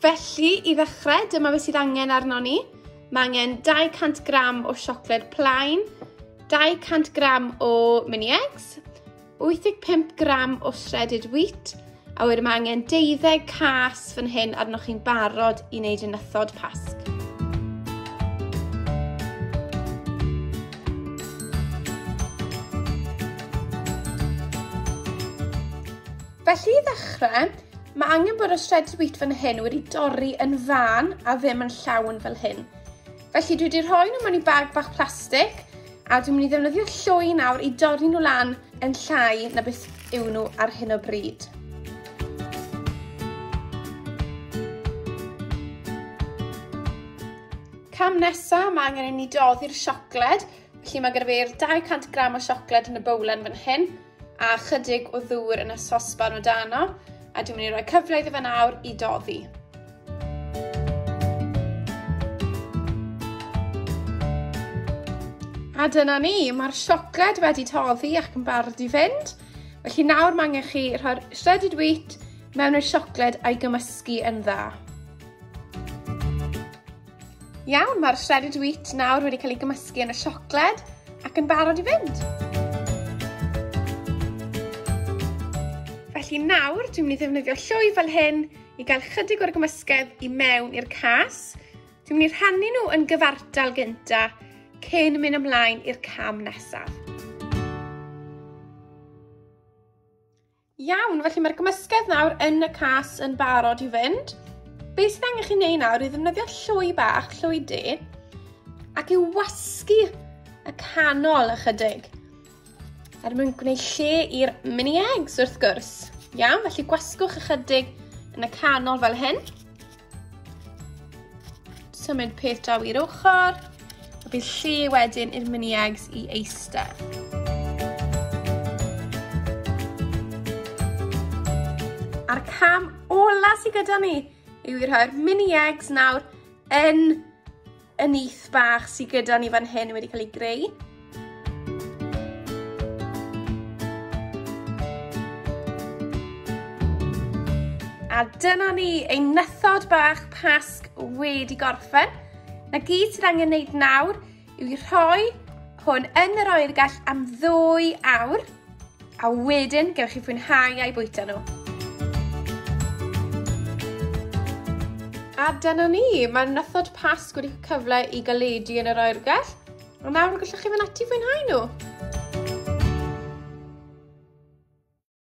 Felly, i ddechrau, dyma beth sydd angen arno ni. Mae angen 200 gram o siocled plaen, 200 gram o mini eggs, 85 gram o shredded wheat, A wedyn mae angen deuddeg cas fan hyn arnoch chi'n barod i wneud yn ythod pasg. Felly i ddechrau, mae angen bod y shredded wheat fan hyn wedi dorri yn fan a ddim yn llawn fel hyn. Felly dwi wedi rhoi nhw mewn i bag bach plastig a dwi'n mynd i ddefnyddio llwy nawr i dorri nhw lan yn llai na beth yw nhw ar hyn o bryd. Cam nesa, mae angen i ni doddi'r siocled, felly mae gyda fi'r 200 gram o siocled yn y bowlen fan hyn. a chydig o ddŵr yn y sosban o dano, a dwi'n mynd i roi cyfle iddo fe nawr i doddi. A dyna ni, mae'r siocled wedi toddi ac yn barod i fynd. Felly nawr mae angen chi rhoi'r shredded wheat mewn i'r siocled a'i gymysgu yn dda. Iawn, mae'r shredded wheat nawr wedi cael ei gymysgu yn y siocled ac yn barod i fynd. Felly nawr, dwi'n mynd i ddefnyddio llwy fel hyn i gael chydig o'r gymysgedd i mewn i'r cas. Dwi'n mynd i rhannu nhw yn gyfartal gynta cyn mynd ymlaen i'r cam nesaf. Iawn, felly mae'r gymysgedd nawr yn y cas yn barod i fynd. Be sydd angen chi wneud nawr i ddefnyddio llwy bach, llwy de, ac i wasgu y canol ychydig. Er mwyn gwneud lle i'r mini eggs wrth gwrs. Iawn, felly gwasgwch ychydig yn y canol fel hyn. Symud peth draw i'r ochr. A bydd lle wedyn i'r mini eggs i eistedd. A'r cam ola sy gyda ni yw i rhoi'r mini eggs nawr yn y nyth bach sydd gyda ni fan hyn wedi cael ei greu. A dyna ni, ein nythod bach pasg wedi gorffen. Na gyd sydd angen wneud nawr yw i rhoi hwn yn yr oergell am ddwy awr A wedyn, gewch chi fwynhau a'i bwyta nhw. A dyna ni, mae nythod Pasg wedi cyfle i galedu yn yr oergell. A nawr gallwch chi fynd ati fwynhau nhw.